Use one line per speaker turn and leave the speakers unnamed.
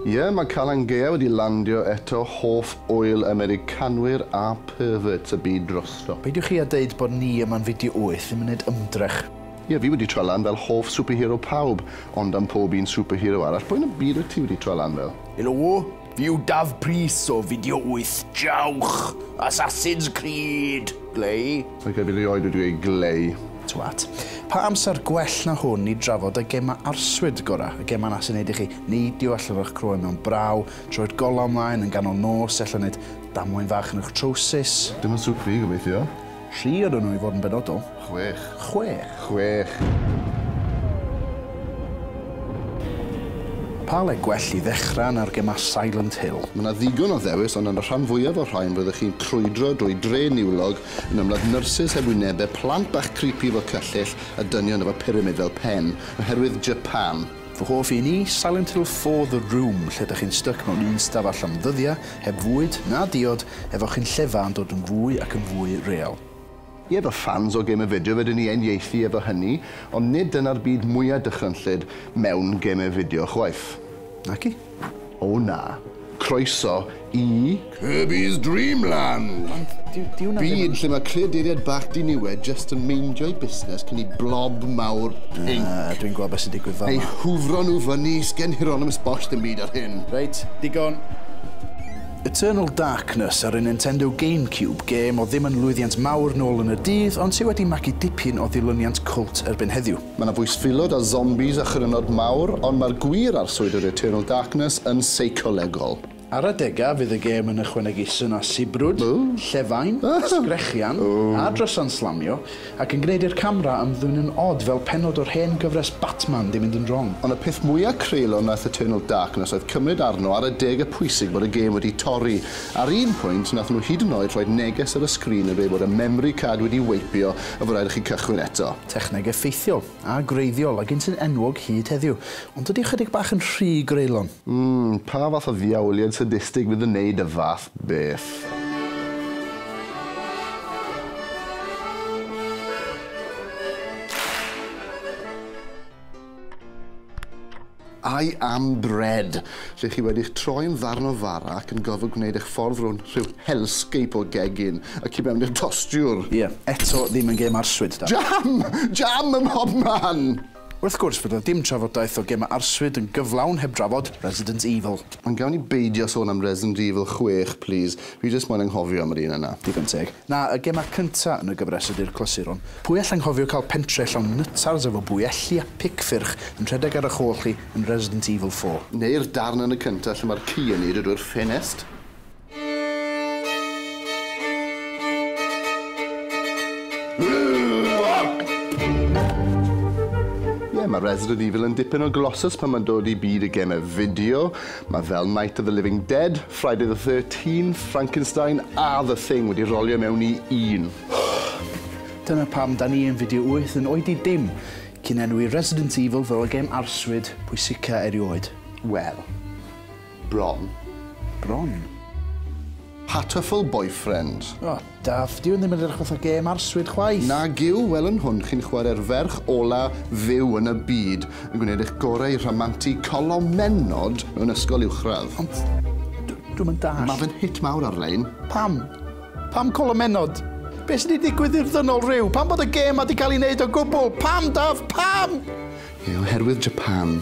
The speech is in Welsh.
Ie, mae Calan Gaea wedi landio eto, hoff ŵyl Americanwyr a perverts y byd drosto. Peidiwch chi a deud bod
ni yma'n fideo wyth ddim yn neud ymdrech. Ie, fi wedi troi
lan fel hoff superhero pawb, ond am pob un superhero arall, pwy yn y byd wyt ti wedi troi lan fel? Helo! Yw
Daf Prys o Video Wyth Jawch! Assassin's Creed! Glei? Ac erbyn rioed wedi
gweud glei. Twat.
Pa amser gwell na hwn i drafod y gema arswyd gora, y gema na sy'n neud i chi neidio allan o'ch croen mewn braw, troed golau ymlaen yn ganol nos, ella neud damwain fach yn y'ch trowsus. Dim yn sŵt fi,
gobeithio. Tri ydyn nhw i
fod yn benodol. Chwech. Chwech.
Chwech.
Pa le gwell i ddechrau na'r gemau Silent Hill? Mae 'na ddigon o ddewis,
ond yn y rhan fwyaf o'r rhain roeddech chi'n crwydro drwy dre niwlog yn ymladd nyrsys heb wynebau, plant bach creepy efo cyllyll, a dynion efo pyramid fel pen, oherwydd Japan. Fy hoff un i,
Silent Hill four The Room, lle dych chi'n styc mewn un stafell am ddyddiau, heb fwyd, na diod, efo chi'n llefa yn dod yn fwy ac yn fwy real. Ie, fy
ffans o gêmau fideo, fedrwn ni uniaethu efo hynny, ond nid dyna'r byd mwya' dychrynllyd mewn gêmau fideo chwaith. Naci.
O na.
Croeso i Kirby's Dream Land! Ond dyw hwnna ddim yn... Byd lle mae creaduriaid bach diniwed jyst yn meindio'i busnes cyn i blob mawr pinc... Na, dwi'n gweld beth sy'n digwydd
fama. ...eu hwfro nhw fyny,
sgen Hieronymus Bosch ddim byd ar hyn. Reit, digon.
Eternal Darkness ar y Nintendo GameCube, gêm oedd ddim yn lwyddiant mawr nôl yn y dydd ond sydd wedi magu dipyn o ddilyniant cwlt erbyn heddiw. Mae 'na fwysfilod a
zombis a chrynod mawr, ond mae'r gwir arswyd yr Eternal Darkness yn seicolegol. Ar adegau
fydd y gêm yn ychwanegu swn a sibrwd, llefain, sgrechian, a drysau'n slamio, ac yn gwneud i'r camera ymddwynnu'n od fel pennod o'r hen gyfres Batman 'di mynd yn wrong. Ond y peth mwya'
creulon wnaeth Eternal Darkness oedd cymryd arno ar adegau pwysig bod y gêm wedi torri. Ar un pwynt, wnaethon nhw hyd yn oed rhoi neges ar y sgrin yn dweud bod y memri card wedi weipio a fod rhaid i chi cychwyn eto. Techneg effeithiol
a gwreiddiol a gynta'n enwog hyd heddiw, ond dydy ychydig bach yn rhy greulon. Mm, pa fath
o ddiawliad sadistig fydd yn neud y fath beth? I am bread! lle chi wedi'ch troi'n ddarn o fara ac yn gorfod gwneud eich ffordd rownd rhyw hellscape o gegin y tu mewn i'r tostiwr. Ie, eto ddim
yn gêm arswyd, da. Jam! Jam
ym mhob man! Wrth gwrs, bydd 'na
dim trafodaeth o gemau arswyd yn gyflawn heb drafod Resident Evil. Ond gawn ni beidio
sôn am Resident Evil chwech, plis. Fi jyst moyn anghofio am yr un yna. Digon teg. Na, y
gemau cynta yn y gyfres ydy'r clasuron. Pwy all anghofio cael pentre llawn nytars efo bwyelli a pic ffyrch yn rhedeg ar ych hôl chi yn Resident Evil four? Neu'r darn yn y
cynta lle mae'r ci yn neidio drwy'r ffenest? Ie, mae Resident Evil yn dipyn o glossus pan mae'n dod i byd y gemau fideo, Mae fel Night of the Living Dead, Friday the Thirteenth, Frankenstein a The Thing wedi rolio mewn i un.
Dyna pam 'da ni yn Fideo Wyth yn oed i dim cyn enwi Resident Evil fel y gêm arswyd pwysica erioed. Wel.
Bron. Bron? Hatoful Boyfriend. O! Daf,
dyw hwn ddim yn edrych fatha gêm arswyd chwaith! Nag yw, wel yn
hwn chi'n chwarae'r ferch ola fyw yn y byd, yn gwneud eich gorau i rhamantu colomennod mewn ysgol uwchradd. Ond, d-
dwi'm yn dallt. Ma' fe'n hit mawr
ar-lein. Pam?
Pam colomennod? Be' sy' 'di digwydd i'r ddynol ryw? Pam bod y gêm 'ma 'di cael ei wneud o gwbl? Pam, Daf, pam? Ie, oherwydd
Japan.